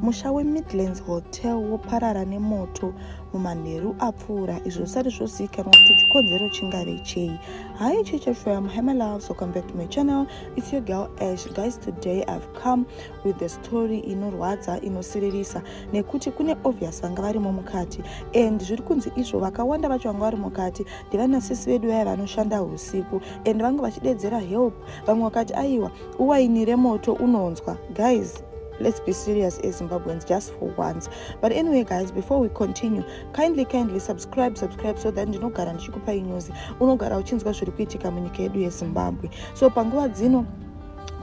Musha weMidlands Hotel woparara nemoto mumanheru apfuura izvo zvisati zvozivikanwa kuti chikonzero chingave chei hi chicha fam hi my loves welcome back to my channel it's your girl ash guys today i've come with the story inorwadza inosiririsa nekuti kune obvious vanga varimo mukati and zviri kunzi izvo vakawanda vacho vanga vari mukati ndivanasisi vedu vaya vanoshanda usiku and vanga vachidedzera help vamwe vakati aiwa uwainire moto unonzwa guys let's be serious as zimbabweans just for once but anyway guys before we continue kindly kindly subscribe subscribe so that ndinogara ndichikupai news unogara uchinzwa zviri kuitika munyika yedu yezimbabwe so panguva dzino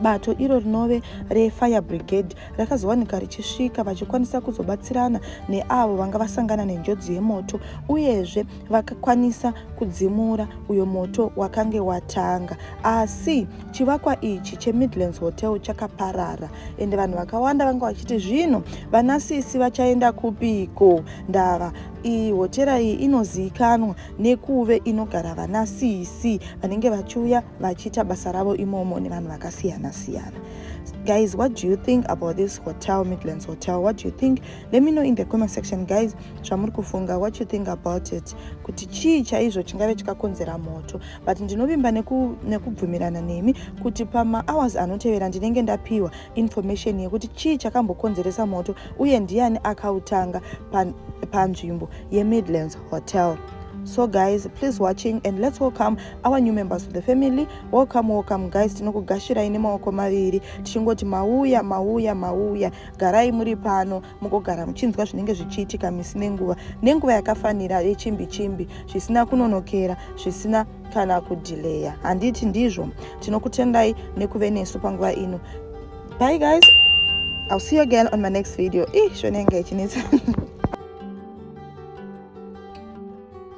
bato iro rinove refire brigade rakazowanika richisvika vachikwanisa kuzobatsirana neavo vanga vasangana nenjodzi yemoto uyezve vakakwanisa kudzimura uyo moto wakange watanga asi Chivakwa ichi cheMidlands Hotel chakaparara ende vanhu vakawanda vanga vachiti zvino vana sisi vachaenda kupiko ndava iyi hotera iyi inozivikanwa nekuve inogara vana sisi vanenge vachiuya vachiita basa ravo imomo nevanhu vakasiyana siyana guys what do you think about this hotel midlands hotel what do you think let me know in the comment section guys zvamuri kufunga what you think about it kuti chii chaizvo chingave chikakonzera moto but ndinovimba nekubvumirana neku nemi kuti pamahours anotevera ndinenge ndapiwa information yekuti chii chakambokonzeresa moto uye ndiani akautanga panzvimbo pa yemidlands hotel so guys please watching and let's welcome our new members to the family welcome welcome guys tinokugashirai nemaoko maviri tichingoti mauya mauya mauya garai muri pano mugogara muchinzwa zvinenge zvichiitika misi nenguva nenguva yakafanira yechimbi chimbi zvisina kunonokera zvisina kana kudhileya handiti ndizvo tinokutendai nekuve nesu panguva ino bye guys i'll see you again on my next video ih shonenge ichinetsa